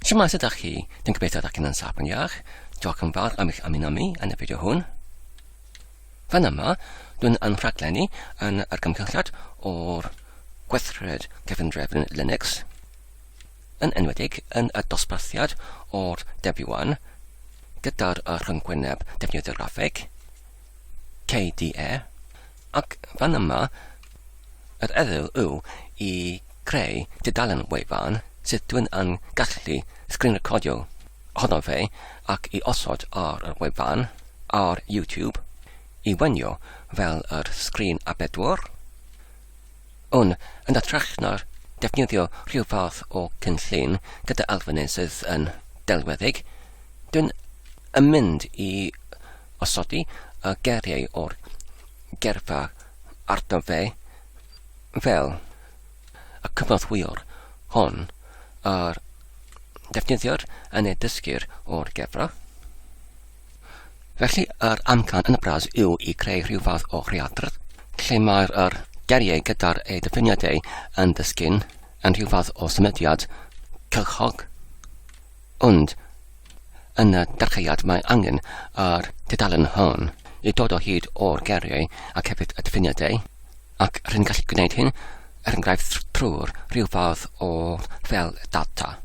Siwmae, sut ydych chi? Dwi'n gobeithio ydych chi'n yn saff yn iach. Diolch yn fawr am eich ymuno mi yn y fideo hwn. Fan yma, dwi'n yn rhaglenni yn yr gymhelliad o'r gweithred gefndrefn Linux, yn enwedig yn y dosbarthiad o'r Debian gyda'r rhyngwyneb defnyddio graffeg, KDE, ac fan yma, yr ydw yw i creu tudalen wefan sydd dwi'n yn gallu sgrin recordio ohono fe ac i osod ar yr wefan ar YouTube i wenio fel yr sgrin a bedwar. Un yn ytrach na'r defnyddio rhyw fath o cynllun gyda elfennau sydd yn delweddig, dwi'n yn mynd i Osodi y geiriau o'r geirfa arno fe, fel y cynorthwywr hon a ddefnyddir yn ei dysgwyr o'r gefra. Felly, yr amcan yn y bras yw i greu rhyw fath o readr, lle mae'r yr geiriau gyda'r eu dyfyniadau yn dysgu'n yn rhyw fath o symudiad cylchog. Ond, yn y dechreuad mae angen ar dudalen hon i dod o hyd o'r geiriau ac hefyd y diffiniadau, ac r'yn gallu gwneud hyn, er enghraifft, trwy'r rhyw fath o fel data.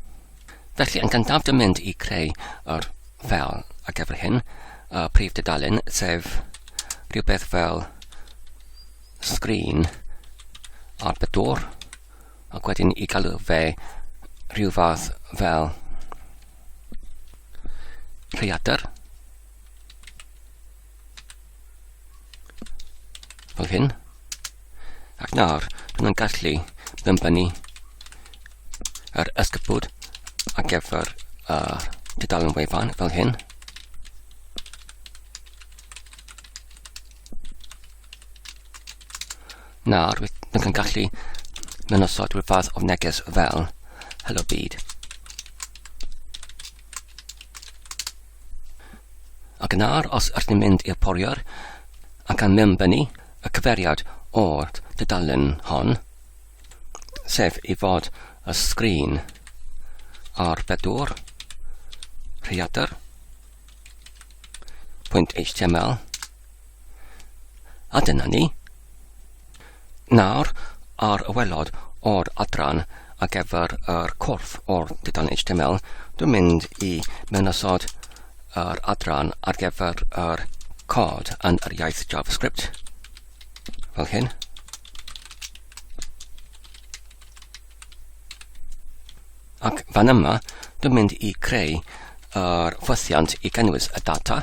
Felly, yn gyntaf dy mynd i creu yr fel ar gyfer hyn, y prif dudalen, sef rhywbeth fel sgrin ar bedwr, Ac wedyn i galw fe rhyw fath fel rhaeadr. Fel hyn. Ac nawr, bydd yn gallu ddymbynnu yr ysgybwd ar gyfer uh, dudalen wefan fel hyn. Na, rwyt yn gallu mynd osod rhyw fath o neges fel Hello Byd. Ac yn ar, os ydych chi'n mynd i'r poriwr, ac gan mynd fyny y cyferiad o'r dudalen hon, sef i fod y sgrin ar bedwr, rhiadr, pwynt HTML, A dyna ni. Nawr, ar y welod o'r adran a gyfer yr corff o'r dudan HTML, dwi'n mynd i mewnosod yr adran ar gyfer yr cod yn yr iaith JavaScript, fel hyn. Ac fan yma, dwi'n mynd i creu yr ffwythiant i gynnwys y data.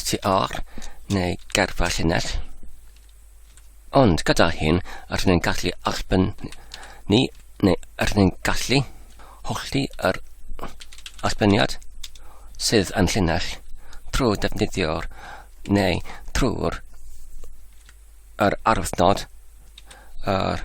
str neu gerfa llinell. Ond gyda hyn, rydyn ni'n gallu arbenn ni, neu rydyn ni'n gallu hollti yr arbenniad sydd yn llinell trwy defnyddio'r neu trwy'r yr arwythnod yr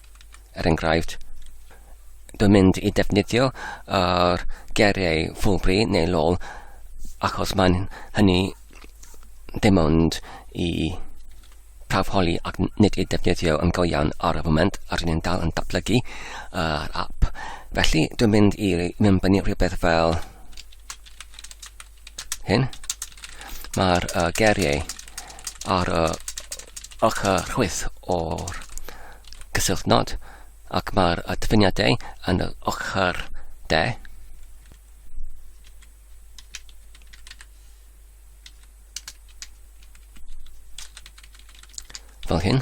Er enghraifft, dwi'n mynd i defnyddio yr geiriau Fulbury neu Lol achos mae'n hynny dim ond i prawf holi ac nid i defnyddio yn go iawn ar y foment ar ni'n dal yn datblygu yr uh, app. Felly dwi'n mynd i mynd fyny rhywbeth fel hyn, mae'r uh, geriau ar y uh, ochr chwyth o'r cysylltnod ac mae'r uh, dyfyniadau yn y ochr de. Fel hyn.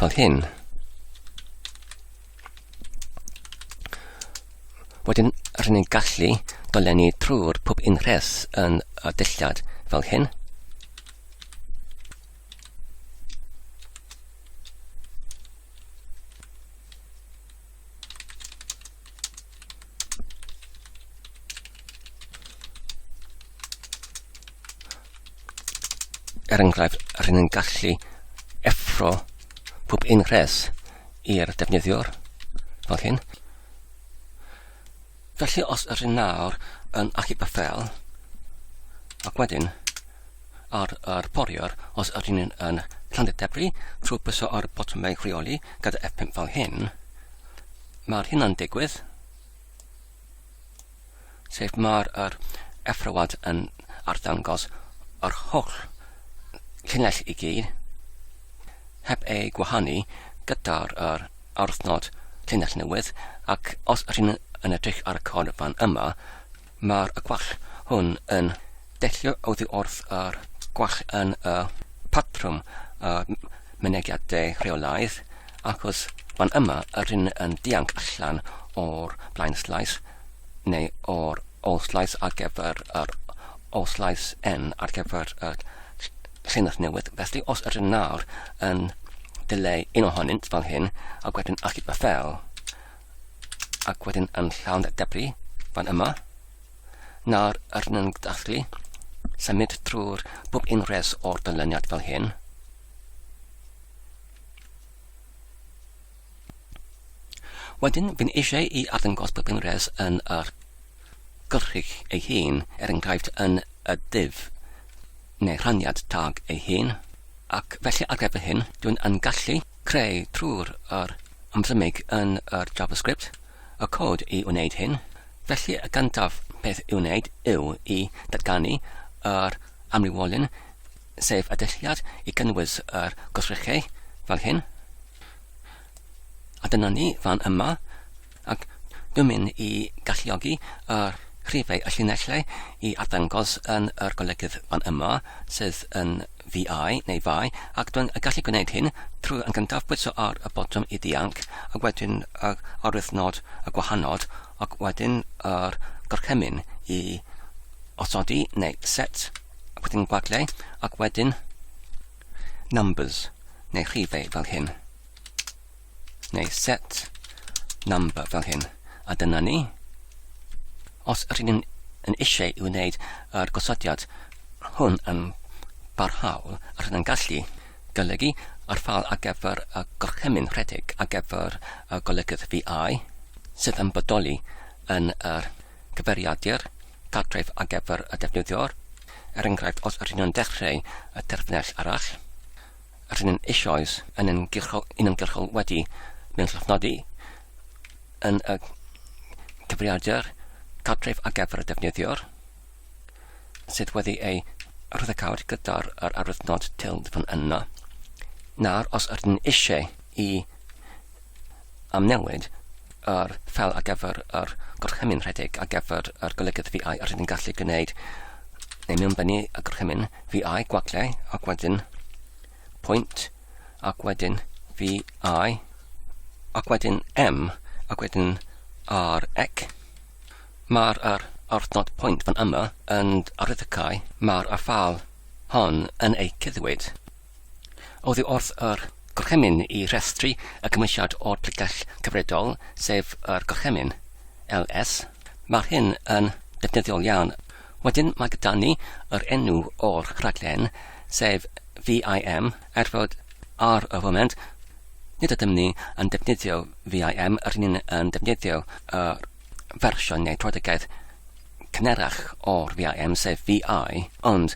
Fel hyn. Wedyn, rydyn ni'n gallu dolenni trwy'r pob unhres yn y dillad fel hyn. er enghraifft, rydyn ni'n gallu effro pob un rhes i'r defnyddiwr, fel hyn. Felly os yr un nawr yn achub y ffel, ac wedyn ar yr poriwr os yr un yn llandu'r debri trwy bwyso ar y botymau rheoli gyda F5 fel hyn, mae'r hynna'n digwydd, sef mae'r yr effrawad yn arddangos yr holl llinell i gyd heb ei gwahanu gyda'r yr aruthnod llinell newydd ac os rhyn yn edrych ar y cod fan yma, mae'r gwall hwn yn deillio oddi wrth yr gwall yn y patrwm y mynegiadau rheolaidd ac os fan yma yr hyn yn dianc allan o'r blaen slais neu o'r ôl slais ar gyfer yr ôl slais N ar gyfer y Llinell newydd, felly os ydyn nawr yn dileu un ohonynt fel hyn, ac wedyn achub y ffel, ac wedyn yn llawn y debri fan yma, nawr ydyn yn gallu symud trwy'r bob un res o'r dylyniad fel hyn, Wedyn, fi'n eisiau i arddangos bob enghraifft yn yr gyrchig ei hun, er enghraifft yn y div neu rhaniad tag ei hun, ac felly ar gyfer hyn, dwi'n yn gallu creu trwy'r yr ymddymic yn yr JavaScript y cod i wneud hyn, felly y gyntaf peth i'w wneud yw i datganu yr amrywiolyn sef y dulliad i gynnwys yr gwrthrychau fel hyn. A dyna ni fan yma, ac dwi'n mynd i galluogi yr rhifau y llinellau i arddangos yn yr golygydd fan yma, sydd yn VI neu VI, ac dwi'n gallu gwneud hyn trwy yn gyntaf bwyso ar y botwm i ddianc, ac wedyn y arwyddnod y gwahanol, ac wedyn yr gorchymyn i osodi neu set. wedyn gwagliau, ac wedyn numbers, neu rhifau fel hyn, neu set number fel hyn. A dyna ni. Os ydyn ni'n yn eisiau i wneud yr gosodiad hwn yn barhaol, rydyn ni'n gallu golygu ar ffal ar gyfer y gorchymyn rhedeg ar gyfer y golygydd VI, sydd yn bodoli yn yr cyfeiriadur cartref ar gyfer y defnyddiwr, er enghraifft os ydyn nhw'n dechreu y terfynell arall, ydyn nhw'n eisoes yn ymgyrchol, yn ymgyrchol wedi mewn llofnodi yn y cyfrifiadur cartref ar gyfer y defnyddiwr sydd wedi ei rhyddhacawd gyda'r yr arwyddnod telephone yno, nawr os ydyn eisiau i am newid yr ffel ar gyfer yr gorchymyn rhedeg ar gyfer yr golygydd VI a rydyn gallu gwneud neu mewnbennu y gorchymyn VI gwagle ac wedyn pwynt ac wedyn VI ac wedyn M ac wedyn ar ec. Mae'r ar arthnod pwynt fan yma yn arwyddocau mae'r afal hon yn eu cyddwyd. Oddi wrth yr Gorchymyn i restru y Cymwysiad o'r Pregeth Cyfredol, sef yr Gorchymyn, LS. Mae'r hyn yn ddefnyddiol iawn. Wedyn mae gyda ni yr enw o'r rhaglen, sef VIM, er fod ar y foment nid ydym ni yn defnyddio VIM, rydyn ni'n defnyddio y fersiwn neu Protegedd cynharach o'r VIM sef VI, ond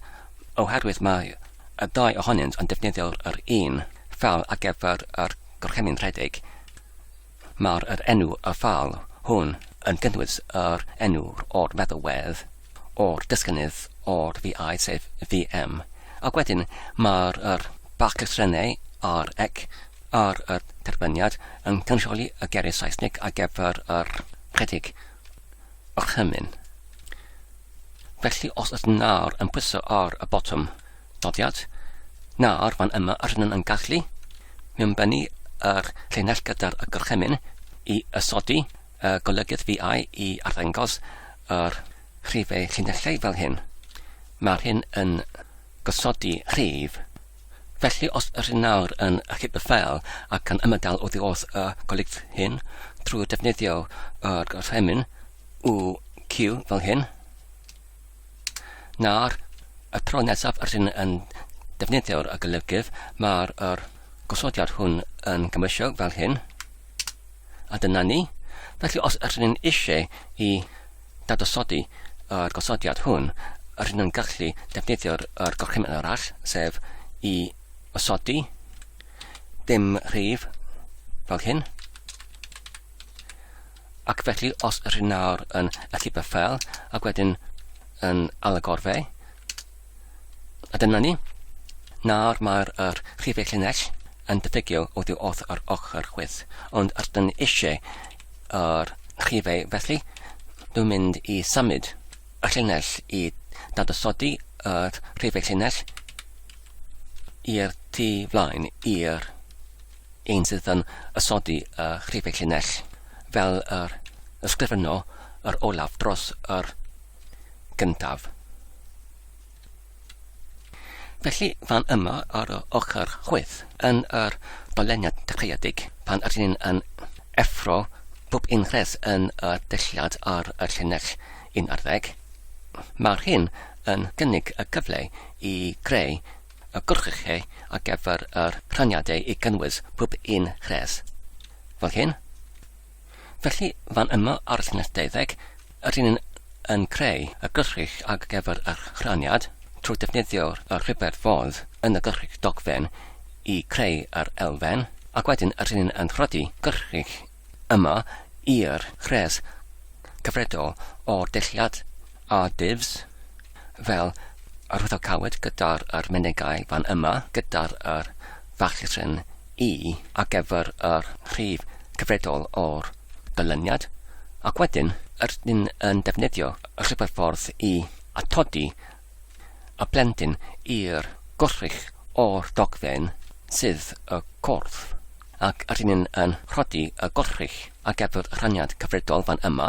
oherwydd mai y ddau ohonynt yn defnyddio'r yr un ffâl ar gyfer yr gorchymyn rhedeg, mae'r yr enw y ffâl hwn yn cynnwys yr enw o'r feddalwedd o'r dysgynydd o'r VI sef VM, ac wedyn mae'r yr baclysrennau ar ec ar y terbyniad yn cynrychioli y geiriau Saesneg ar gyfer yr rhedeg orchymyn. Felly os ydyn nawr yn pwyso ar y botwm nodiad, nawr fan yma rydyn yn gallu mewnbennu yr llinell gyda'r y gorchymyn i ysodi y golygydd VI i arddangos yr rhifau llinellau fel hyn. Mae'r hyn yn gosodi rhif Felly os ydych chi'n nawr yn achub y ffeil ac yn ymadael oddi wrth y golygfeydd hyn trwy ddefnyddio yr gorchymyn UQ fel hyn, nawr y tro nesaf ydych chi'n yn defnyddio'r golygydd mae'r er gosodiad hwn yn gymwysio fel hyn, a dyna ni. Felly os ydych chi'n eisiau i Dadosodi yr gosodiad hwn, rydyn nhw'n gallu defnyddio'r yr gorchymyn arall, sef i osodi dim rhif fel hyn. Ac felly, os rydyn nawr yn alluba ffel, ac wedyn yn alagor fe, a dyna ni, nawr mae'r er rhifau llinell yn diffygio oddi wrth yr ochr chwith, ond rydyn ni eisiau ar rhifau felly dwi'n mynd i symud y llinell i dadosodi yr rhifau llinell i'r tu flaen i'r un sydd yn ysodi y rhifau llinell fel yr ysgrifenno yr olaf dros yr gyntaf. Felly, fan yma ar y ochr chwith, yn yr doleniad dechreuedig, pan ydyn ni'n yn effro pob un rhes yn y dulliad ar y llinell un ar ddeg, mae'r hyn yn gynnig y cyfle i greu y gwrchlle ar gyfer yr rhaniadau i gynnwys pob un rhes, fel hyn. Felly, fan yma ar llinell deuddeg, rydyn ni'n yn creu y gyllrych ar gyfer yr rhaniad trwy ddefnyddio y rhifedd fodd yn y gyllrych dogfen i creu yr elfen, ac wedyn rydyn ni'n yn rhoddi gyllrych yma i'r rhes cyfredol o'r dulliau a divs. fel arwyddocaod gyda'r yr menygai fan yma gyda'r yr fachryn i ar gyfer yr rhif cyfredol o'r ganlyniad ac wedyn rydyn yn defnyddio rhyfeddffordd i atodi y plentyn i'r gwrthrych o'r dogfen sydd y cwrdd ac rydyn yn rhodi y gwrthrych ar gyfer rhaniad cyfredol fan yma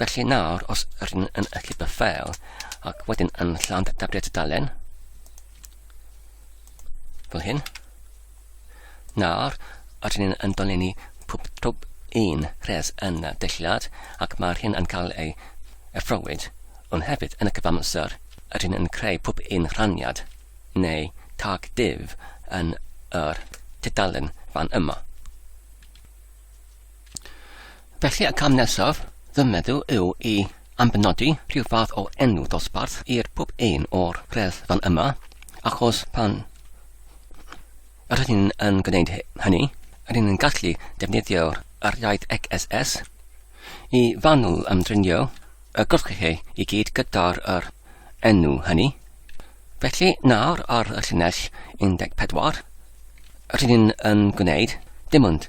Felly nawr, os rydyn yn allu by ffeil, ac wedyn yn llawn dafriad y dalen, fel hyn, nawr, rydyn ni'n yn dolenni pwb twb un rhes yn y deilliad, ac mae'r hyn yn cael ei effrowyd, ond hefyd yn y cyfamser, rydyn yn creu pwb un rhaniad, neu tag div yn yr tudalen fan yma. Felly y cam nesaf, fy meddwl, yw i ambenodi rhyw fath o enw dosbarth i'r pob un o'r rhedd fan yma, achos pan rydyn yn gwneud hynny, rydyn yn gallu defnyddio'r yr iaith XSS i fanwl ymdrinio y gwrthchei i gyd gyda'r yr enw hynny. Felly nawr ar y llinell 14, rydyn yn gwneud dim ond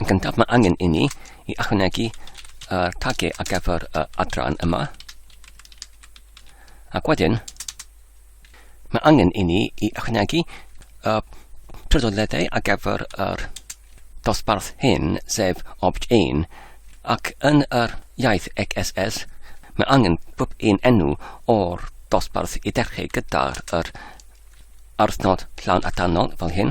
Yn gyntaf mae angen inni i ychwanegu y tagiau ar gyfer y adran yma. Ac wedyn, mae angen inni i ychwanegu y trydoledau ar gyfer yr dosbarth hyn, sef obj 1, ac yn yr iaith XSS, Mae angen pob un enw o'r dosbarth i dechrau gyda'r yr arthnod llawn atanol fel hyn.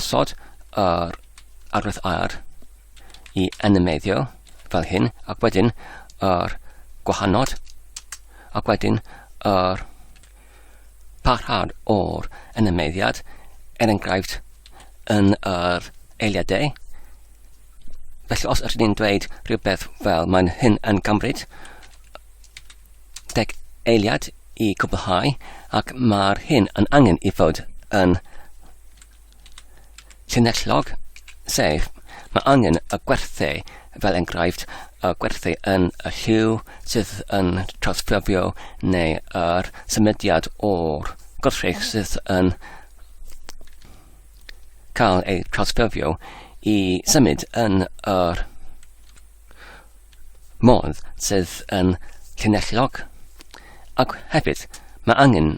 Osod yr arwydd ar i animeiddio fel hyn, ac wedyn yr gwahanod, ac wedyn yr parhad o'r animeiddiad, er enghraifft yn yr eiliadau. Felly os ydyn ni'n dweud rhywbeth fel mae'n hyn yn cymryd deg eiliad i gwblhau ac mae'r hyn yn angen i fod yn llinellog, sef mae angen y gwerthu, fel enghraifft, y gwerthu yn y lliw sydd yn trawsffurfio neu yr symudiad o'r gwrthrych sydd yn cael ei trawsffurfio i symud yn yr modd sydd yn llinellog ac hefyd mae angen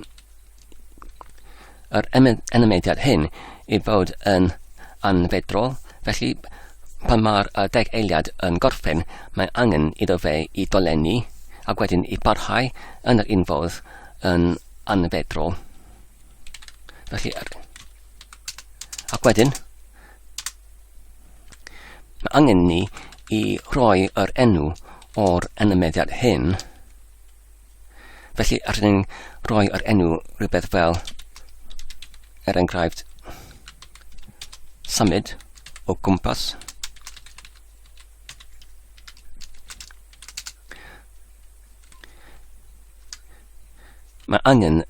yr enymediad hyn i fod yn anfedrol felly pan mae'r deg eiliad yn gorffen mae angen iddo fe i dolenni ac wedyn i barhau yn yr un fodd yn anfedrol felly ac wedyn Mae angen ni i roi yr enw o'r anymeddiad hyn. Felly, allwn ni'n rhoi yr enw rhywbeth fel, er enghraifft, symud o gwmpas. Mae angen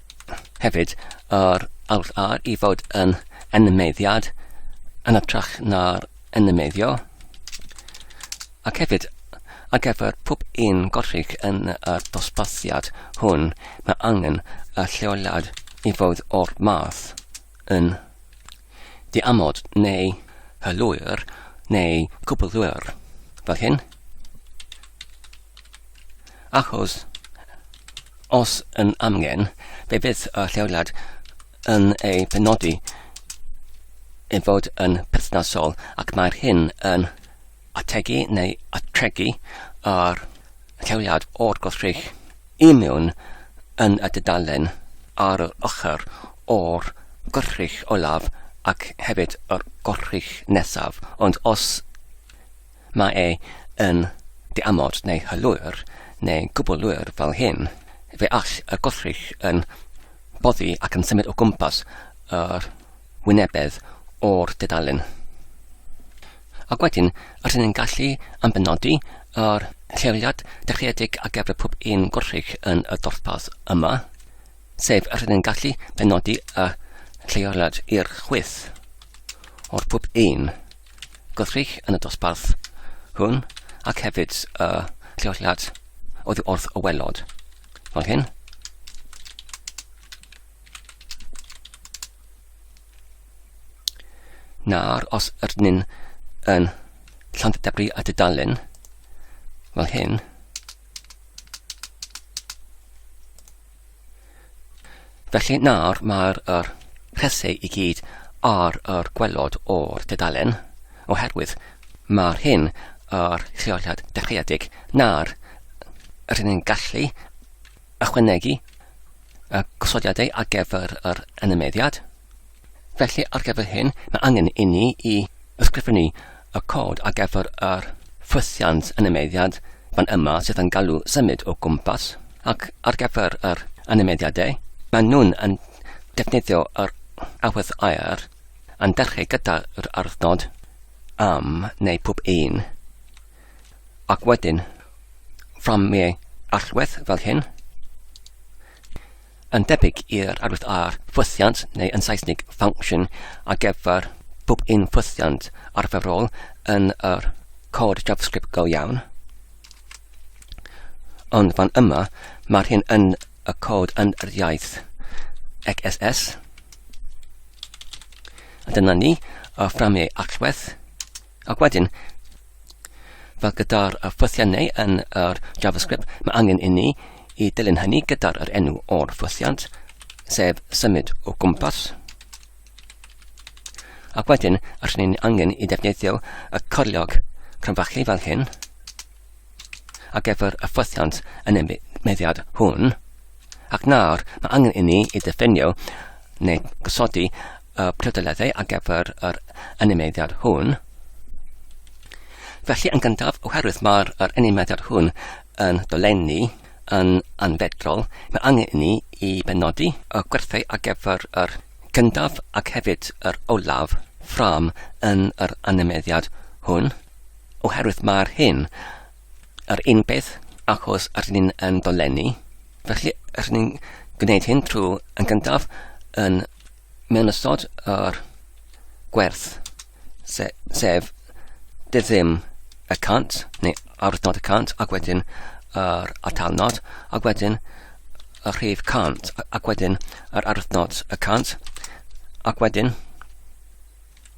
hefyd yr Alt A i fod yn enmeddiad yn ytrach na'r enmedio, ac hefyd ar gyfer pob un gorrig yn y dosbarthiad hwn mae angen y lleoliad i fod o'r math. yn diamod neu hylwyr neu cwbylwyr, fel hyn. Achos os yn amgen, fe fydd y lleoliad yn ei penodi i fod yn perthnasol ac mae'r hyn yn ategu neu atregu ar lleoliad o'r gwrthrych I mewn yn y dudalen ar yr ochr o'r gwrych olaf ac hefyd yr gwrych nesaf, ond os mae e yn diamod neu hylwyr neu gwbl lwyr fel hyn, fe all y gwrych yn boddi ac yn symud o gwmpas yr wynebedd o'r dudalen. Ac wedyn, rydyn ni'n gallu ambenodi yr lleoliad dechreuedig a gefra pob un gwrthrych yn y dorpad yma, sef rydyn ni'n gallu benodi y lleoliad i'r chwyth o'r pob un gwrthrych yn y dosbarth hwn ac hefyd y lleoliad oedd wrth y welod. Fel hyn. Nawr, os ydyn ni'n yn Llandybri a dudalen fel hyn, felly nawr mae'r er rhesau i gyd ar yr gwelod o'r dudalen, oherwydd mae'r hyn yr lleoliad dechreuedig. Nawr, rydyn ni'n gallu Ychwanegu y gosodiadau ar gyfer yr animeiddiad. Felly, ar gyfer hyn, mae angen inni i ysgrifennu y cod ar gyfer yr ffwythiant animeiddiad fan yma sydd yn galw symud o gwmpas ac ar gyfer yr animeiddiadau, maen nhw'n yn defnyddio yr awydd aer yn dechrau gyda'r ardd nod am neu pob un. Ac wedyn, from me allwedd fel hyn, yn debyg i'r arwydd ar ffwythiant neu yn Saesnig function a geffer pob un ffwythiant arferol yn yr cod JavaScript go iawn. Ond fan yma, mae'r hyn yn y cod yn yr iaith XSS. A dyna ni, y fframau allwedd. Ac wedyn, fel gyda'r ffwythiannau yn yr JavaScript, mae angen i ni i dilyn hynny gyda'r yr enw o'r ffwythiant, sef symud o gwmpas. Ac wedyn, allwn ni'n angen i ddefnyddio y corliog crynfachu fel hyn, ac efo'r ffwythiant yn y meddiad hwn, ac nawr mae angen i ni i ddefnyddio neu gosodi y prydleddau ar gyfer yr animeiddiad hwn. Felly yn gyntaf, oherwydd mae'r er animeiddiad hwn yn dolenni yn anfedrol, mae angen i ni i benodi y gwerthau ar gyfer yr gyntaf ac hefyd yr olaf ffram yn yr animeiddiad hwn, oherwydd mae'r hyn Yr un peth, achos rydyn ni'n yn dolenni, felly rydyn ni'n gwneud hyn trwy yn gyntaf yn mewn ystod yr gwerth, se, sef dydd ddim y cant, neu awyrnod y cant, ac wedyn yr atalnod, ac wedyn y rhif cant, ac wedyn yr awyrnod y cant, ac wedyn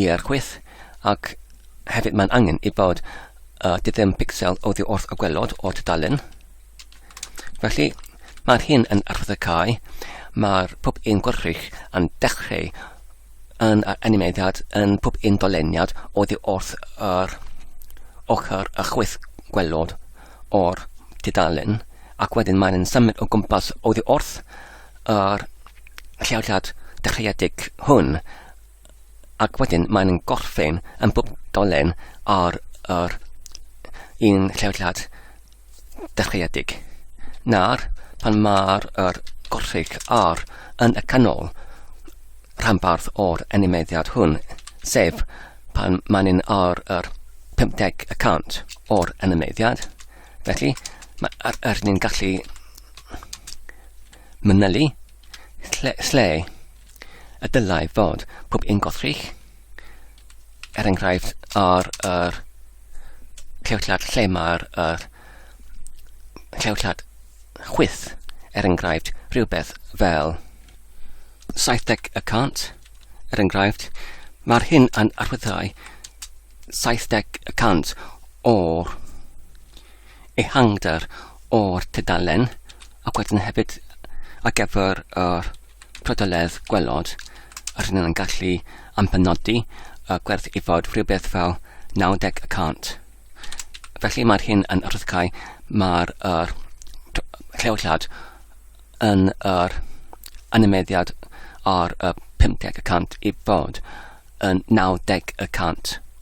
i'r chwith ac hefyd mae'n angen i bod uh, di ddim pixel oddi wrth y gwelod o tudalen. Felly mae'r hyn yn arfod y cae, mae'r pwp un gwrthrych yn dechrau yn yr animeiddiad yn pwp un doleniad oddi wrth yr ochr y chwith gwelod o'r tudalen ac wedyn mae'n symud o gwmpas oddi wrth yr lleoliad dechreuedig hwn, ac wedyn maen nhw'n gorffen yn bob dolen ar yr un lleoliad dechreuedig. Na'r pan mae'r er gorffig ar yn y canol rhanbarth o'r animeiddiad hwn, sef pan maen nhw'n ar yr 50 y cant o'r animeiddiad. Felly, mae'r er ni'n gallu manylu lle, lle y dylai fod pob un gothrych, er enghraifft ar yr clewllad lle mae'r er, clewllad chwyth, er enghraifft rhywbeth fel 70 y cant, er enghraifft, mae'r hyn yn arwyddhau 70 y cant o'r ehangder o'r tudalen ac wedyn hefyd ar gyfer yr prydoledd gwelod a rydyn yn gallu ampenodi y gwerth i fod rhywbeth fel 90 y cant. Felly mae'r hyn yn rhyddhau mae'r er, lleoliad yn yr animeddiad ar y 50 y cant i fod yn 90 y cant.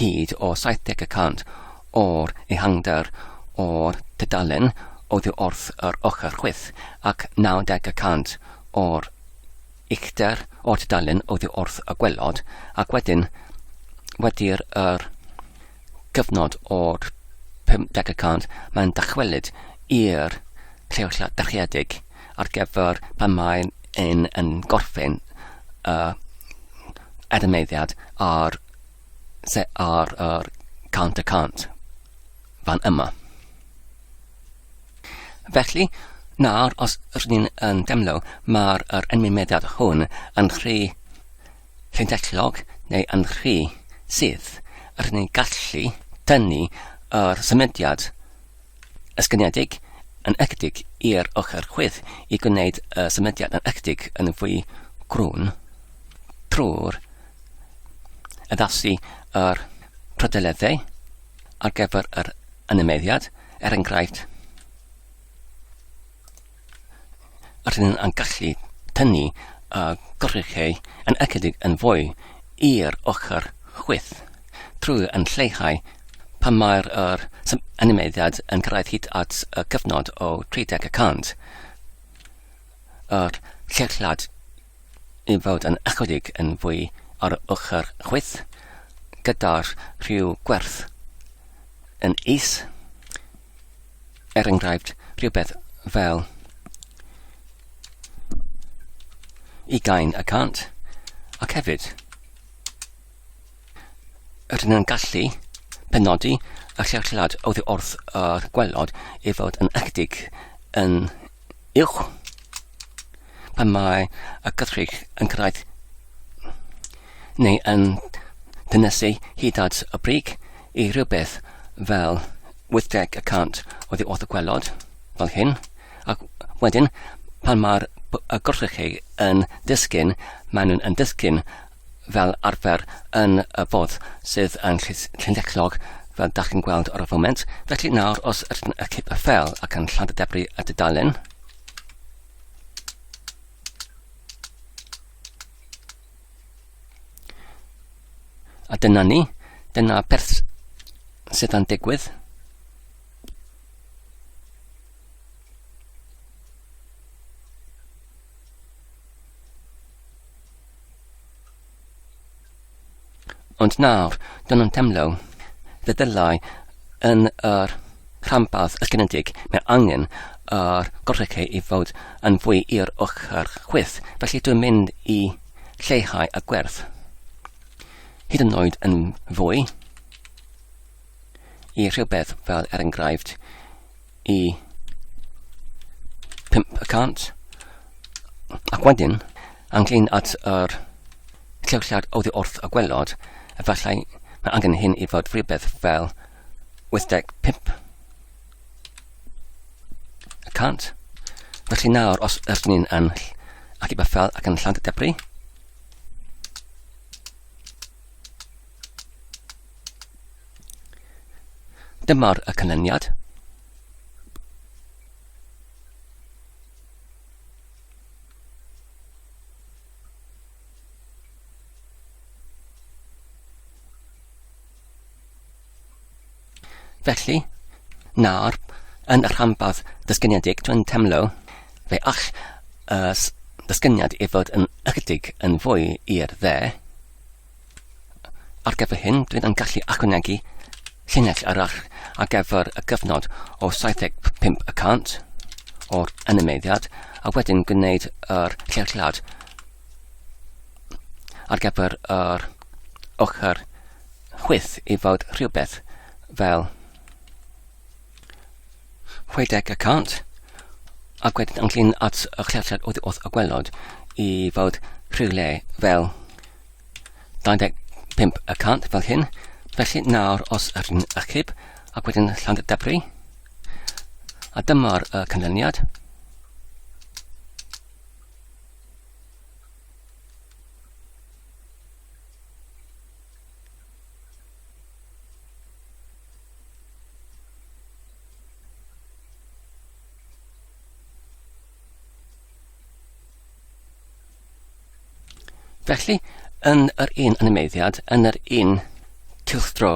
hyd o 70 y cant o'r ehangder o'r tudalen oddi wrth yr ochr chwith ac 90 y cant o'r uchder o'r tudalen oddi wrth y gwelod, ac wedyn wedi'r yr cyfnod o'r 50 y cant mae'n dychwelyd i'r lleoliad dyrchiedig ar gyfer pan mae'n yn gorffen y adamneiddiad ar Se ar yr cant y cant fan yma. Felly, nawr os rydyn ni'n yn demlo, mae'r er enwymediad hwn yn rhy llunllellog neu yn rhy sydd. Rydyn ni'n gallu tynnu yr symudiad Ysgrifenedig yn ychydig i'r ochr chwith i gwneud y symudiad yn ychydig yn fwy crwn trwy'r addasu a'r prydleddau ar gyfer yr animeiddiad, er enghraifft, rydyn yn gallu tynnu y gorchuddiadau yn ychydig yn fwy i'r ochr chwith, trwy yn lleihau pan mae'r yr animeiddiad yn cyrraedd hyd at y cyfnod o 30 y cant, yr lleihad i fod yn ychydig yn fwy ar y ochr chwith, gyda'r rhyw gwerth yn is. Er enghraifft, rhywbeth fel ugain y cant, ac hefyd rydyn nhw'n gallu penodi y llewllad oddi wrth yr gwelod i fod yn ychydig yn uwch pan mae y gythrich yn cyrraedd neu yn dynysu hyd at y brig i rhywbeth fel 80 y cant oddi wrth y gwelod, fel hyn, ac wedyn, pan mae'r gorchrechu yn disgyn, maen nhw'n yn disgyn fel arfer yn y fodd sydd yn llynllechog, fel da chi'n gweld ar y foment. Felly nawr, os ydyn y cip y ffel ac yn llad y debri y dudalen, A dyna ni, dyna beth sydd yn digwydd. Ond nawr, dyn nhw'n teimlo fe ddylai yn yr rhanbarth ysgrifenedig mae angen yr golygu i fod yn fwy i'r ochr chwith, felly dwi'n mynd i lleihau y gwerth. Hyd yn oed yn fwy. i rhywbeth fel er enghraifft i 5 y cant ac wedyn anglyn at yr llewllad oddi wrth y gwelod efallai mae angen hyn i fod rhywbeth fel 85 y cant felly nawr os ydyn ni'n yn ac i bethau ac yn lladd y debris Dyma'r y canlyniad. Felly, nawr, yn y rhanbarth dysgynedig, dwi'n temlo fe all y dysgyniad i fod yn ychydig yn fwy i'r dde. Ar gyfer hyn, dwi'n yn gallu ychwanegu llinell arall ar gyfer y gyfnod o 75 y cant o'r animeiddiad a wedyn gwneud yr llewllad ar gyfer yr ochr chwyth i fod rhywbeth fel 60 y cant, ac wedyn ynglyn at y llesiad oedd wrth y gwelod i fod rhywle fel 25 y cant fel hyn, felly nawr os yr un achub ac wedyn llawn debri, a dyma'r uh, canlyniad. Felly, yn yr un animeiddiad, yn yr un cylchdro,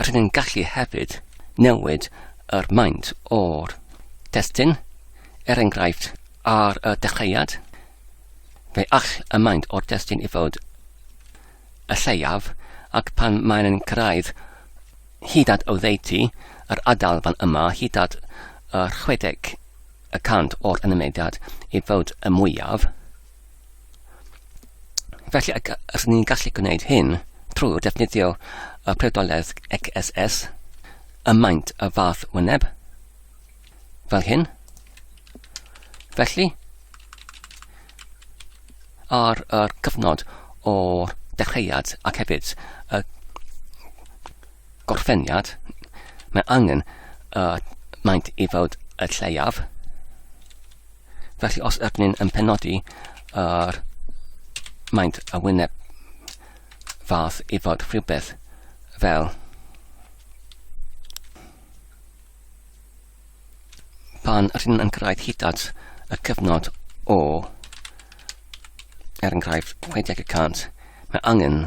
rydyn ni'n gallu hefyd newid yr maint o'r testyn, er enghraifft, ar y dechreuad, fe all y maint o'r testyn i fod y lleiaf, ac pan maen yn cyrraedd hyd at oddeutu yr ardal fan yma hyd at y 60 y cant o'r ynymediad i fod y mwyaf. Felly y, rydyn ni'n gallu gwneud hyn trwy defnyddio y priodoledd XSS, y maint y fath wyneb, fel hyn. Felly, ar y cyfnod o'r dechreuad ac hefyd y gorffeniad, mae angen y maint i fod y lleiaf. Felly os ydyn ni'n yn penodi yr maint y wyneb fath i fod rhywbeth fel pan rydyn yn cyrraedd hyd at y cyfnod o, er enghraifft, 60 y cant, mae angen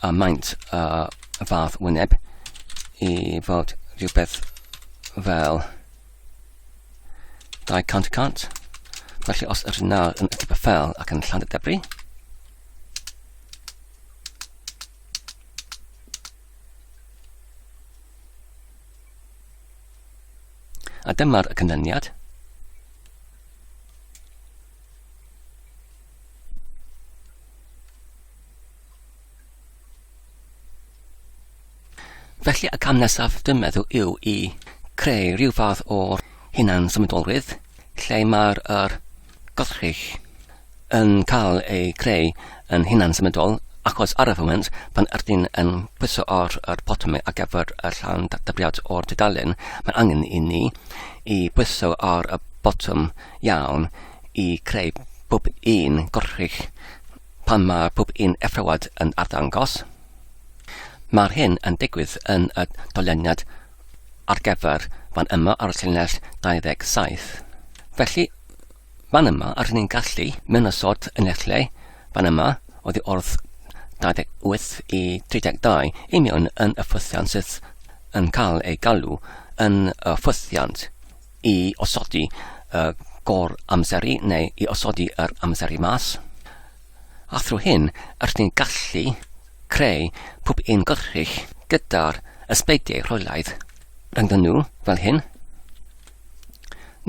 a maint a y fath wyneb i fod rhywbeth fel 200 y cant. Felly os ydyn nawr yn y fel ac yn llan y debri, A dyma'r canlyniad. Felly y cam nesaf dwi'n meddwl yw i creu rhyw fath o hunan symudolrwydd lle mae'r er, Gallech yn cael ei greu yn hunan-symudol achos ar y foment, pan ydyn yn pwyso ar yr botymau ar gyfer y llawn databriad o'r dudalen, mae angen i ni i bwyso ar y botwm iawn i greu pob un gorchudd pan mae pob un effrawad yn arddangos. Mae'r hyn yn digwydd yn y dolyniad ar gyfer fan yma ar y llinell 27. Felly, fan yma, ar ni'n gallu mynd y sort yn eich lle, fan yma, oedd i ordd 28 i 32, i mewn yn y ffwythiant sydd yn cael ei galw yn y ffwythiant i osodi y gor amseru neu i osodi yr amseru mas. A thrwy hyn, rydyn ni'n gallu creu pob un gollrig gyda'r ysbeidiau rheolaidd ynddyn nhw, fel hyn.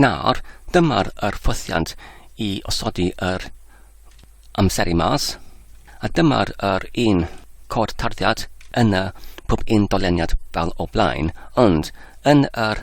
Nawr, dyma'r yr ffosiant i osodi yr amseru mas, a dyma'r yr un cod tarddiad yn y pob un doleniad fel o blaen, ond yn yr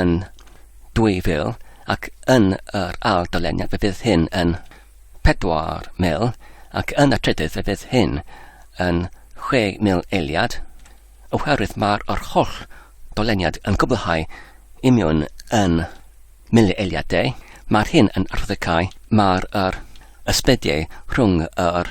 yn 2000 ac yn yr ail doleniad fe fydd hyn yn 4000 ac yn y trydydd fe fydd hyn yn 6000 eiliad oherwydd mae'r yr holl doleniad yn gwblhau imiwn yn mili eiliadau. Mae'r hyn yn arddicau, mae'r yr ysbediau rhwng yr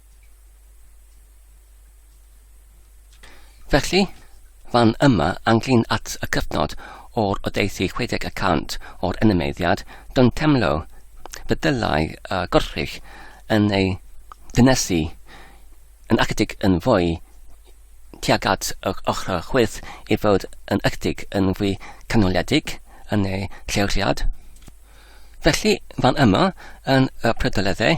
Felly, fan yma anghlin at y cyfnod o'r oddeithi chwedeg y cant o'r enemeiddiad, don't temlo, fe ddylai y gorchfych yn ei ddynesu yn ychydig yn fwy tuag at yr ochr chwith i fod yn ychydig yn fwy canoledig yn ei lleoliad. Felly, fan yma yn y prydoleddau,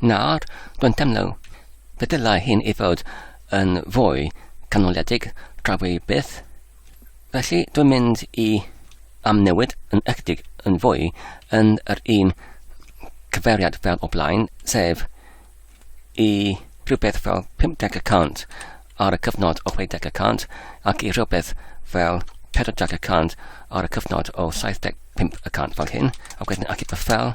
Nawr, dwi'n teimlo fe ddylai hyn i fod yn fwy canoliedig tra fwy byth. Felly dwi'n mynd i amnewid yn ychydig yn fwy yn yr un cyfeiriad fel o blaen, sef i rhywbeth fel 50 y cant ar y cyfnod o 60 y cant ac i rhywbeth fel 40 y cant ar y cyfnod o 75 y cant fel hyn, ac wedyn ac i fel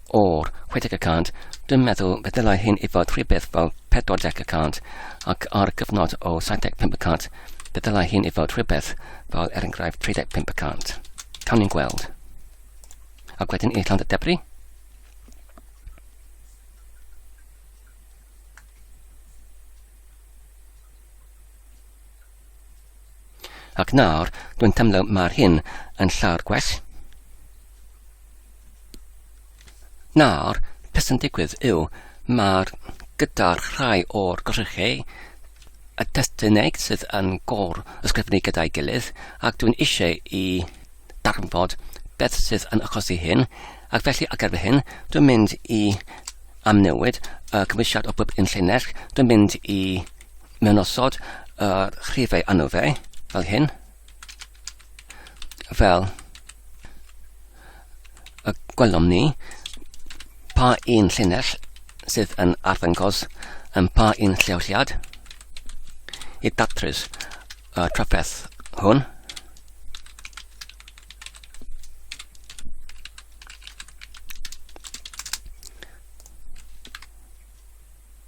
o'r 60 y cant, dwi'n meddwl fe ddylai hyn i fod rhywbeth fel 40 y cant, ac ar gyfnod o 75 y cant, fe ddylai hyn i fod rhywbeth fel er enghraifft 35 y cant. Cawn ni'n gweld. Ac wedyn i Llandr Debri, Ac nawr, dwi'n teimlo mae'r hyn yn llawer gwell. Nawr, beth sy'n digwydd yw, mae'r gyda'r rhai o'r gorchegau y testunau sydd yn gor ysgrifennu gyda'i gilydd ac dwi'n eisiau i darnfod beth sydd yn achosi hyn ac felly ac erbyn hyn dwi'n mynd i amnewid y cymwysiad o bob un llinell dwi'n mynd i Mae'n osod yr uh, rhifau anw fe, fel hyn, fel y gwelwn ni pa un llinell sydd yn arddangos yn pa un lleoliad i datrys y uh, trafferth hwn.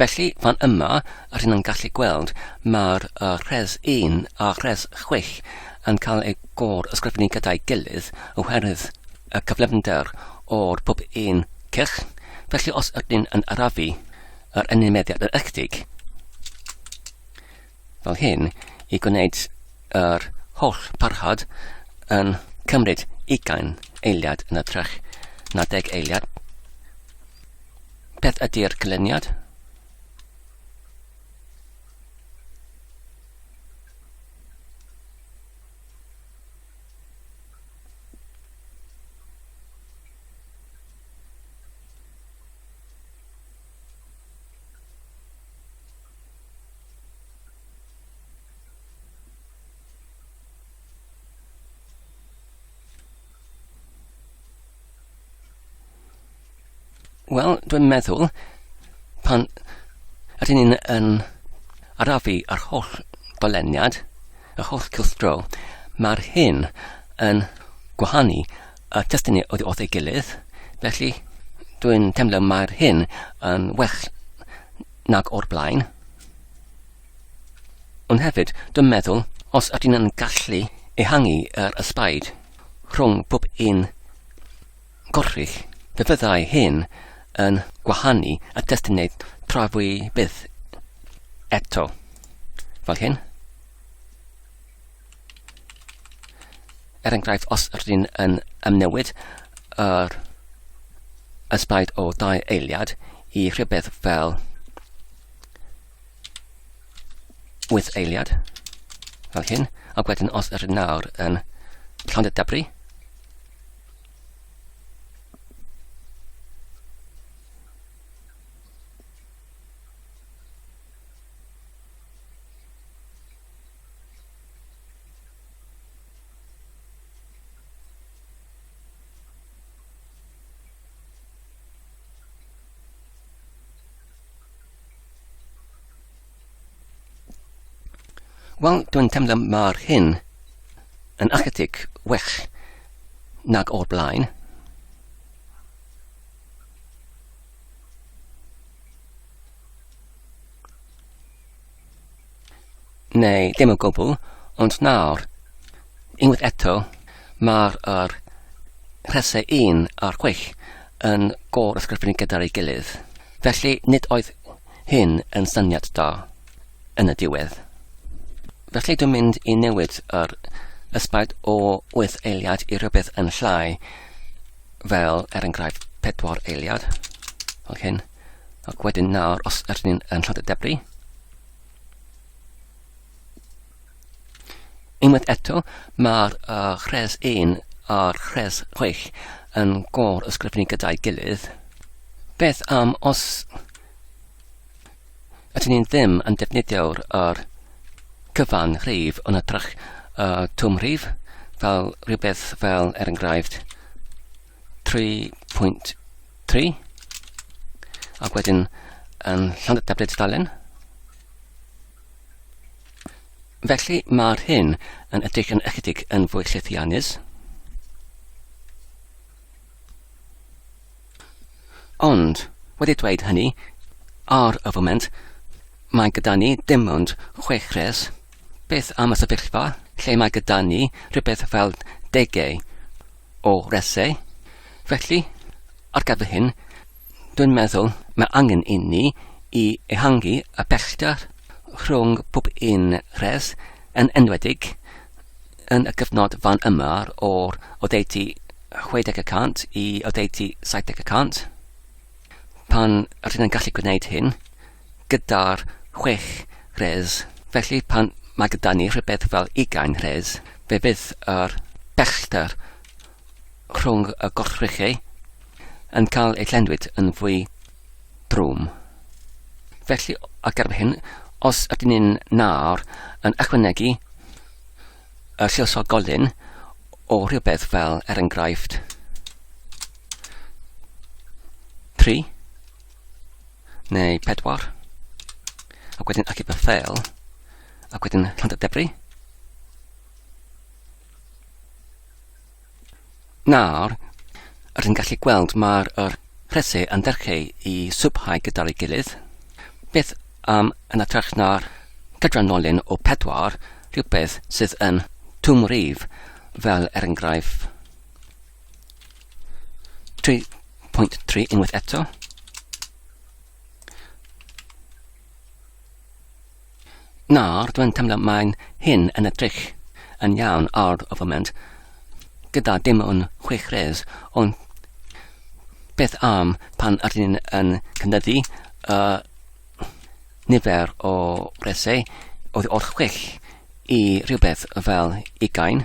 Felly, fan yma, rŷn yn gallu gweld mae'r uh, rhes 1 a rhes 6 yn cael eu gor ysgrifennu gyda'i gilydd oherwydd y cyflymder o'r pob un cylch. Felly, os ydyn yn arafu yr enw meddiad yn ychydig, fel hyn i gwneud yr holl parhad yn cymryd ugain eiliad yn ytrach na deg eiliad. Beth ydy'r cylluniad? Wel, dwi'n meddwl, pan ydyn ni'n yn arafu ar holl doleniad, yr holl cylchdro, mae'r hyn yn gwahanu y testynnu oedd wrth ei gilydd, felly dwi'n teimlo mae'r hyn yn well nag o'r blaen. Ond hefyd, dwi'n meddwl, os ydyn yn gallu ehangu yr ysbaid rhwng pob un gorrich, fe fyddai hyn yn gwahanu y testynau trafwy byth eto. Fel hyn. Er enghraifft, os rydyn yn ymnewid yr ysbaid o dau eiliad i rhywbeth fel 8 eiliad, fel hyn, ac wedyn os rydyn nawr yn llond y dybri, Wel, dwi'n teimlo mae'r hyn yn ychydig well nag o'r blaen. Neu dim o gwbl, ond nawr, unwaith eto, mae'r er rhesau 1 a'r 6 yn gor ysgrifennu gyda'r ei gilydd. Felly nid oedd hyn yn syniad da yn y diwedd. Felly dwi'n mynd i newid yr ysbaid o 8 eiliad i rhywbeth yn llai fel er enghraifft 4 eiliad fel hyn. Ac wedyn nawr, os ydyn ni'n yn llod y debri, unwaith eto, mae'r uh, rhes 1 a'r rhes 6 yn gor ysgrifennu gyda'i gilydd. Beth am os ydyn ni'n ddim yn defnyddio'r er cyfan rhif yn y trach uh, twm rhif, fel rhywbeth fel, er enghraifft, 3.3 ac wedyn yn Llandr Tabled Stalin. Felly mae'r hyn yn edrych yn ychydig yn fwy llethiannus. Ond, wedi dweud hynny, ar y foment, mae gyda ni dim ond chwech res. Beth am y sefyllfa lle mae gyda ni rhywbeth fel degau o resau. Felly, ar gyfer hyn, dwi'n meddwl mae angen inni i ehangu y pellter rhwng pob un rhes yn enwedig yn y cyfnod fan yma o'r oddeutu 60 y cant i oddeutu 70 y cant. Pan rydyn yn gallu gwneud hyn, gyda'r chwech rhes, felly pan mae gyda ni rhywbeth fel ugain rhes, fe fydd yr bellter rhwng y gorchrychau yn cael ei llenwyd yn fwy drwm. Felly, a gerbyn hyn, os ydyn ni'n nawr yn ychwanegu y lliwsog golyn o rhywbeth fel, er enghraifft, 3, neu pedwar, ac wedyn achub y ffeil, ac wedyn rhan y debri. Nawr, rydyn ni'n gallu gweld mae'r er rhesi yn derchu i swbhau gyda'r ei gilydd. Beth am yn atrach na'r cydranolyn o pedwar, rhywbeth sydd yn twm rif, fel er enghraifft 3.3 unwaith eto. Nawr, dwi'n teimlo mae'n hyn yn y drych yn iawn ar y foment, gyda dim ond chwech res, ond beth am pan ydyn ni'n yn cynyddu y nifer o resau oedd o'r chwech i rhywbeth fel ugain.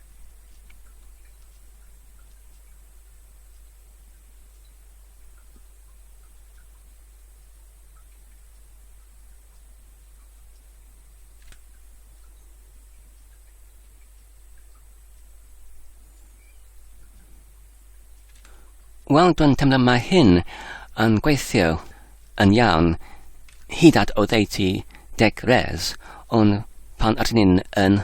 Wel, dwi'n teimlo mae hyn yn gweithio yn iawn hyd at oddeutu deg res, ond pan ydyn ni'n yn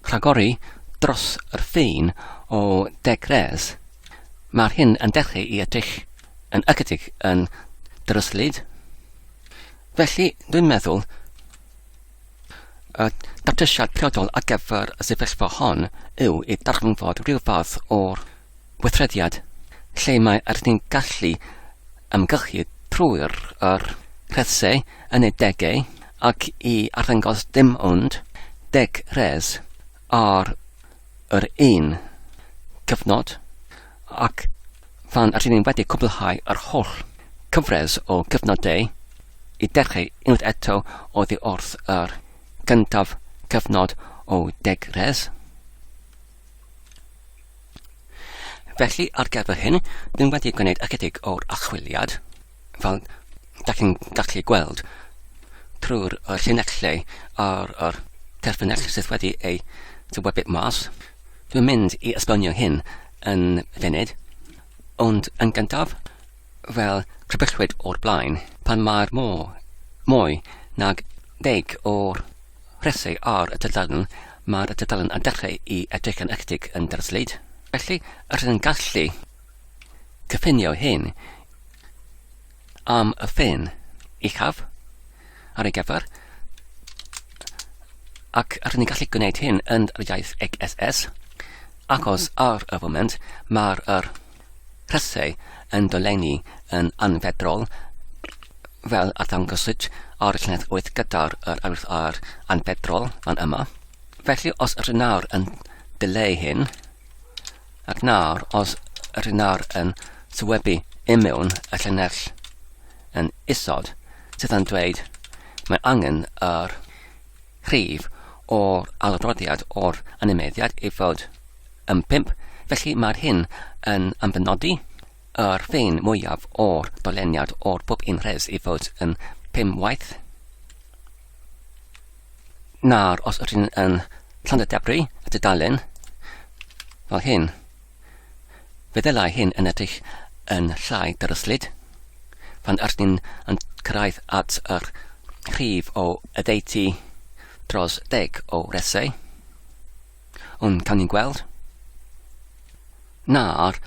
Rhagori dros yr ffin o Degres, mae'r hyn yn dechreu i edrych yn ychydig yn dryslyd. Felly, dwi'n meddwl y datrysiad priodol ar gyfer y sefyllfa hon yw i ddarganfod rhyw fath o'r weithrediad, lle mae arnynt yn gallu ymgylchu trwy'r yr rhesau yn eu degau ac i arddangos dim ond deg rhes ar yr un cyfnod, ac phan rŷn ni wedi cwblhau yr holl cyfres o gyfnodau, i dechrau unwaith eto oddi wrth yr gyntaf cyfnod o deg rhes. Felly, ar gyfer hyn, dyn wedi gwneud ychydig o'r achwiliad, fel da chi'n gallu gweld trwy'r uh, llinellau a'r, ar terfynell sydd wedi ei dywebu mas. Dwi'n mynd i esbonio hyn yn funud, ond yn gyntaf, fel crybwyllwyd o'r blaen, pan mae'r môr mwy nag deg o'r Felly, ar y tudalen, mae'r tudalen a dechrau i edrych yn ectig yn Derslyd. Felly, rydyn yn gallu cyffinio hyn am y ffin uchaf ar ei gyfer, ac rydyn ni'n gallu gwneud hyn yn yr iaith XSS, achos ar y foment mae'r er Rhesai yn dolenni yn anfeddrol, fel a ddangoswyd ar llinell wyth gyda'r yr arwydd ar anfeddrol fan yma. Felly os yr nawr yn dileu hyn, ac nawr os yr nawr yn sywebu imiwn y llinell yn isod, sydd yn dweud mae angen yr rhif o'r adroddiad o'r animeiddiad ei fod yn pump, felly mae'r hyn yn amddinnodi yr ffein mwyaf o'r doleniad o'r pob un rhes ei fod yn pum waith na'r os ydyn yn Llandadebru y dudalen fel hyn. Fe ddylai hyn yn edrych yn llai dryslyd. Pan ydyn ni'n yn cyrraedd at yr rhif o oddeutu dros deg o resau, ond cawn ni'n gweld na'r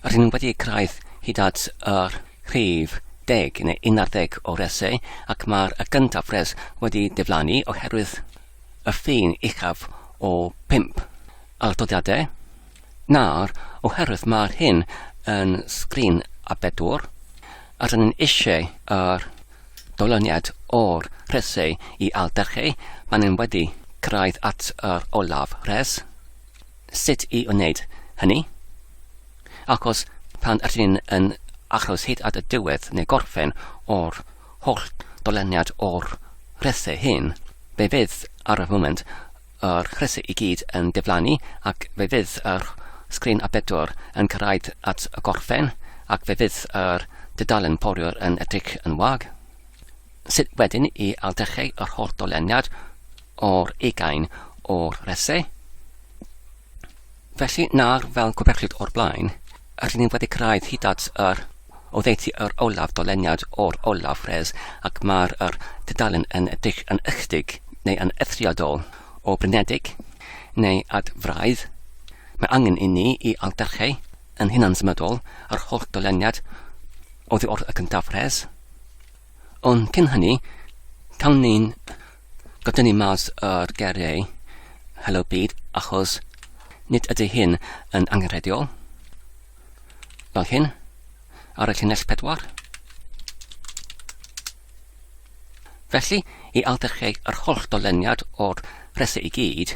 rydyn nhw wedi cyrraedd hyd at yr rhif deg neu un ar ddeg o resau ac mae'r y gyntaf res wedi diflannu oherwydd y ffin uchaf o 5. Atodiadau, Nawr, oherwydd mae'r hyn yn sgrin a bedwar, a rydyn ni'n eisiau yr dolyniad o'r rhesau i aildrechu pan yn wedi cyrraedd at yr olaf rhes, sut i wneud hynny? Achos pan ydyn ni'n yn achos hyd at y diwedd neu gorffen o'r holl dolyniad o'r rhesau hyn, be fydd ar y foment Yr crysau i gyd yn diflannu ac fe fydd yr sgrin A4 yn cyrraedd at y gorffen ac fe fydd yr dudalen foriwr yn edrych yn wag. Sut wedyn i ailddechrau yr holl doleniad o'r ugain o'r resau? Felly, nawr, fel gwbechlyd o'r blaen, rydyn ni wedi cyrraedd hyd at yr oddeutu yr olaf doleniad o'r olaf res ac mae'r yr dudalen yn edrych yn ychydig neu yn eithriadol o blinedig neu ad fraidd. Mae angen i ni i aldarcheu yn hunansymudol yr holl doleniad oddi wrth y cyntaf res. Ond cyn hynny, cawn ni'n godynnu mas o'r geiriau Helo Byd, achos nid ydy hyn yn angenrheidiol. Fel hyn, ar y llinell pedwar. Felly, i aldercheg yr holl doleniad o'r rhesau i gyd,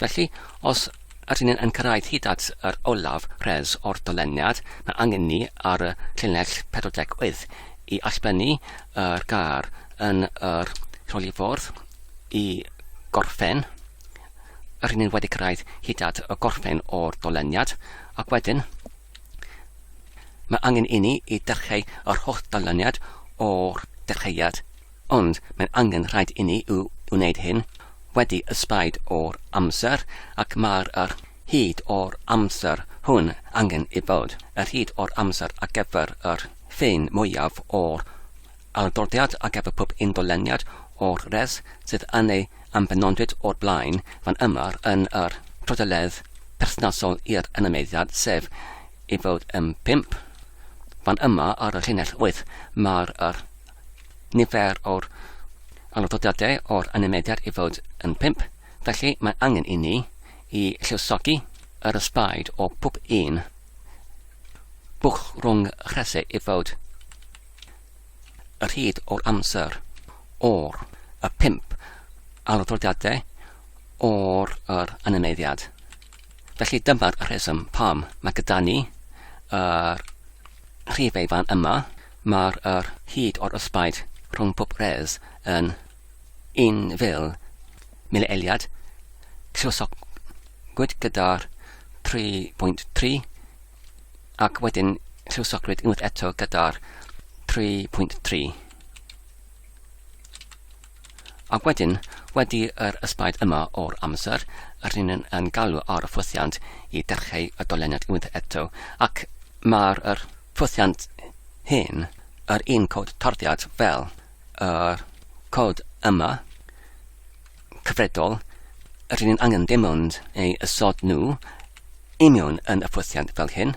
Felly, os ydyn ni yn cyrraedd hyd at yr olaf res o'r doleniad, mae angen ni ar y llinell 48 i allblennu yr gar yn yr rholiffordd i gorffen. Rydyn ni wedi cyrraedd hyd at y gorffen o'r doleniad, ac wedyn mae angen i ni i dechrau yr holl doleniad o'r dechreuad. Ond mae'n angen rhaid inni yw wneud hyn wedi ysbaid o'r amser, ac mae'r yr hyd o'r amser hwn angen i fod yr hyd o'r amser ar gyfer yr ffin mwyaf o'r adroddiad ar gyfer pob un doleniad o'r res sydd yn ei ambenodwyd o'r blaen fan yma yn yr trodeledd perthnasol i'r anameiddiad, sef i fod yn pump fan yma ar y llinell wyth, mae'r yr nifer o'r aralddodiadau o'r animeiddiad i fod yn pump, felly mae angen i ni i lluosogi yr ysbaid o pob un bwch rhwng rhese i fod y rhyd o'r amser o'r y pump aralddodiadau o'r yr animeiddiad. Felly dyma'r rheswm pam mae gyda ni yr rhifau fan yma. Mae'r er hyd o'r ysbaid rhwng pob res yn 1,000 mileiliad. Lluosogwyd gyda'r 3.3 ac wedyn lluosogrwyd unwaith eto gyda'r 3.3. Ac wedyn, wedi yr ysbaid yma o'r amser, rŷn yn yn galw ar y ffwythiant i dechreu y doleniad unwaith eto, ac mae'r yr ffwythiant hyn, yr un cod tarddiad fel yr cod yma, cyfredol, rŷn yn angen dim ond ei ysod nhw i mewn yn y ffwythiant fel hyn,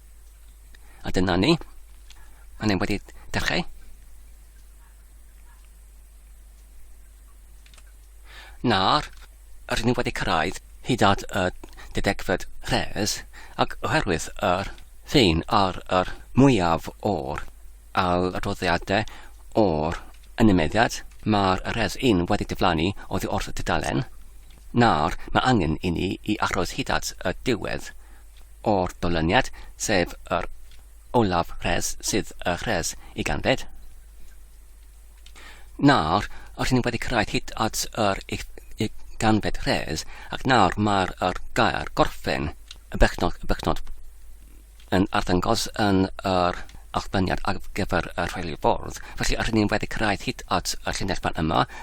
A dyna ni. Mae hynny wedi dechrau. Nawr, rydyn ni wedi cyrraedd hyd at y dedegfed rhes, ac oherwydd yr ffin ar yr mwyaf o'r adroddiadau o'r ynymeddiad, mae'r rhes un wedi diflannu oddi wrth y dudalen. Nawr, mae angen i ni i achroes hyd at y diwedd. o'r dolyniad, sef yr olaf res sydd y res i ganfed. Nawr, rydyn ni wedi cyrraedd hyd at yr ganfed res, ac nawr mae'r er gair gorffen y bechnod, y bechnod yn arddangos yn yr allbyniad ar gyfer y rheoli ffordd. Felly, rydyn ni wedi cyrraedd hyd at y llinell fan yma,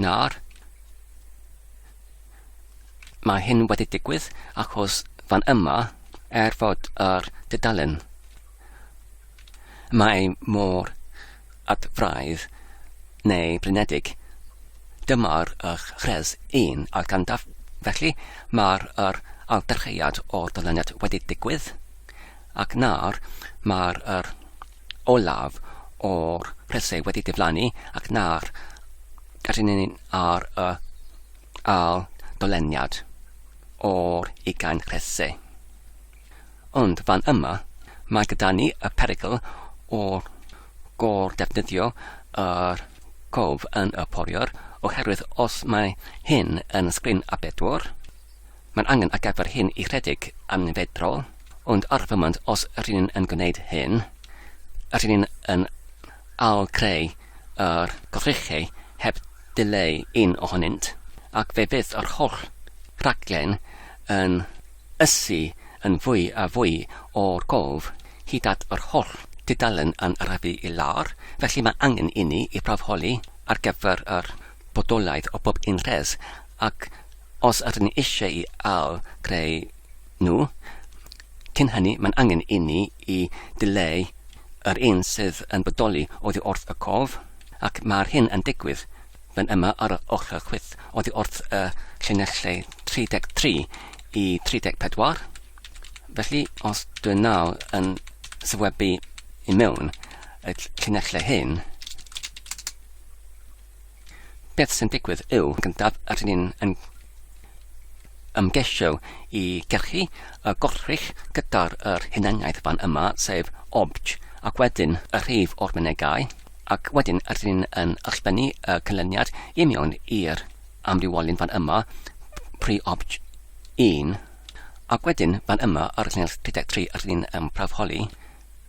Nawr, mae hyn wedi digwydd achos fan yma, er fod yr dudalen mae mor adfraidd neu blinedig, dyma'r eich rhes 1 a'r gandaf, felly mae'r yr aldarcheiad o'r dyluniad wedi digwydd, ac nawr mae'r yr olaf o'r preseg wedi diflannu ac na'r gadwyn ar y ail doleniad o'r ugain rhese. Ond fan yma, mae gyda ni y perygl o'r gor defnyddio yr cof yn y poriwr oherwydd os mae hyn yn sgrin A4, Mae'n angen ar gyfer hyn i rhedeg yn fedrol, ond ar y foment os rŷn ni'n yn gwneud hyn, rŷn ni'n yn ail-greu yr goddrychau heb dileu un ohonynt, ac fe fydd yr holl raglen yn ysu yn fwy a fwy o'r gof, hyd at yr holl dudalen yn arafu i lawr, felly mae angen inni i brawfholi ar gyfer yr bodolaeth o bob un rhes, Ac os ydyn ni eisiau i ail-greu nhw, cyn hynny mae'n angen inni i ddileu yr un sydd yn bodoli oddi wrth y cof, ac mae'r hyn yn digwydd fan yma ar yr ochr chwith oddi wrth y llinellau 33 i 34. Felly, os dwi'n nawr yn sefydlu i mewn y llinellau hyn, Beth sy'n digwydd yw, gyntaf, rydyn ni'n yn ymgeisio i gyrchu y gorchfych gyda'r yr hunaniaeth fan yma, sef obj, ac wedyn y rhif o'r mynegai, ac wedyn rydyn ni'n yn ysbennu y canlyniad i mewn i'r amrywiolyn fan yma, pri obj 1, ac wedyn fan yma ar y llinell 33 rydyn ni'n ymprafholi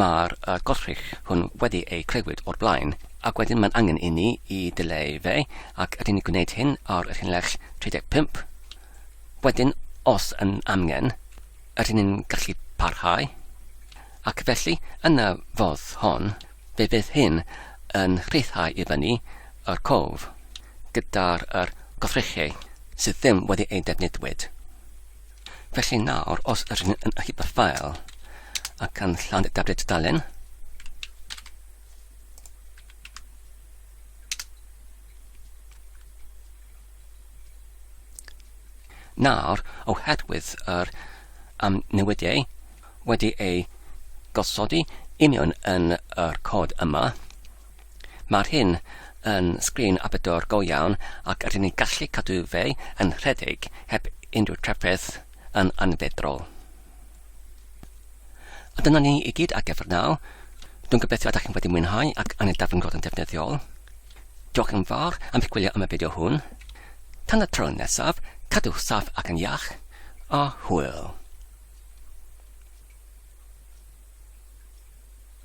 Mae'r gwrthrych hwn wedi ei clywed o'r blaen, ac wedyn mae'n angen inni i ddileu fe, ac ydyn ni'n gwneud hyn ar y rhinlles 35. Wedyn, os yn amgen, ydyn ni'n gallu parhau, ac felly, yn y fodd hon, fe fydd hyn yn rhyddhau i fyny yr cof gyda'r gwrthrychau sydd ddim wedi eu defnyddiwyd. Felly nawr, os ydyn ni yn achub y ffael a canllawn y tablet dalen, Nawr, oherwydd yr am newidiau wedi ei gosodi union yn yr cod yma, Mae'r hyn yn sgrin abydor go iawn ac rydyn ni'n gallu cadw fe yn rhedeg heb unrhyw drafferth yn anfeddrol. A dyna ni i gyd ar gyfer naw. Dwi'n gobeithio ydych chi'n wedi mwynhau ac anid darfod yn ddefnyddiol. Diolch yn fawr am eich gwylio am y fideo hwn. Tan y tro nesaf, cadwch saff ac yn iach, a hwyl!